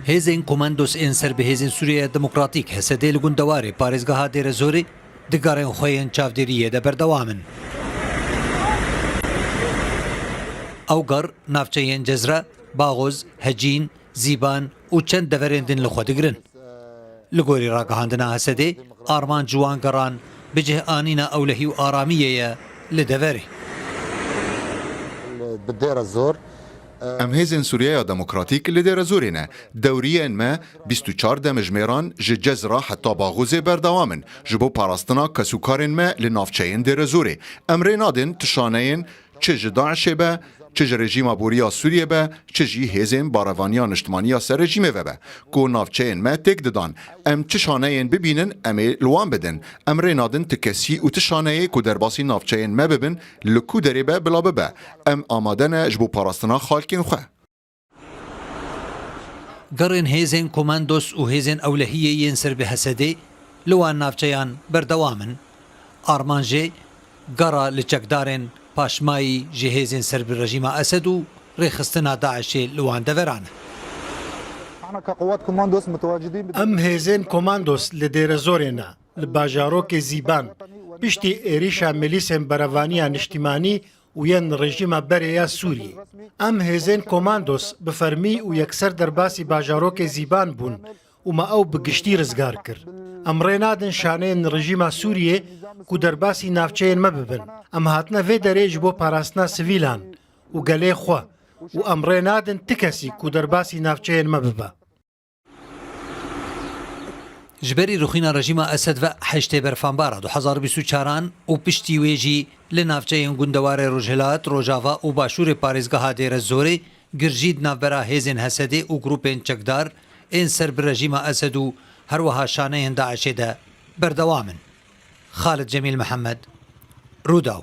Hêzên Komandos ên ser bi Hêzên Sûriyeya Demokratîk, HSD'ê li gundewarê parêzgeha Dêrezorê di garên xwe yên çavdêriyê de berdewam in. Ew gar navçeyên Cezra, Baxoz, Hecîn, Zîban, û çend deverên din li xwe digirin. Li gorî ragihandina Hesedê, armanc wan geran bi cih anîna ewlehî û aramiyê ye li deverê. Bi Dêrezor. Em Hêzên Sûriyeya Demokratîk li Dêrezorê ne. Dewriyên me bîst û çar demijmêran ji Cezra heta Baxûzê berdewam in. Ji bo parastina kesûkarên me li navçeyên Dêrezorê, em rê nadin tu şaneyên Çi ji DAIŞ'ê be, çi ji rejîma borî ya Sûriyê be, çi jî hêzên barevaniya niştimanî ya ser rejîmê ve be, ku navçeyên me têk didan, em çi şaneyên bibînin em ê li wan bidin. Em rê nadin ti kesî û ti şaneyê ku derbasî navçeyên me bibin li ku derê be bila bibe. Em amade ne ji bo parastina xalkên xwe. Gerên hêzên Komandos û hêzên ewlehiyê yên ser bi Hesedê li wan navçeyan berdewam in. Armanjê gera li çekdarên paşmayî ji hêzên ser bi rejîma Esed û rêxistina DAIŞ'ê li wan deveran e. Em hêzên Komandos li Dêrezorê ne, li bajarokê Zîban, piştî êrîşa milîsên Berevaniya Niştîmanî û yên rejîma berê ya Sûriyê. Em hêzên komandos bi fermî û yekser derbasî bajarokê Zîban bûn û me ew bi giştî rizgar kir. Em rê nadin şaneyên rejîma Sûriyê ku derbasî navçeyên me bibin. Em hatine vê derê ji bo parastina sivîlan û gelê xwe û em rê nadin ti kesî ku derbasî navçeyên me bibe. Ji berî rûxîna rejîma Esed ve heştê berfambara du hezar û bîst û çar an û piştî wê jî li navçeyên gundewarê Rojhilat, Rojava û Başûrê parêzgeha Dêrezorê girjî di navbera hêzên Hesedê û grûpên çekdar ên ser bi rejîma Esed û her wiha şaneyên DAIŞ'ê de berdewam in. Xalid Cemîl Mihemed, Rûdaw.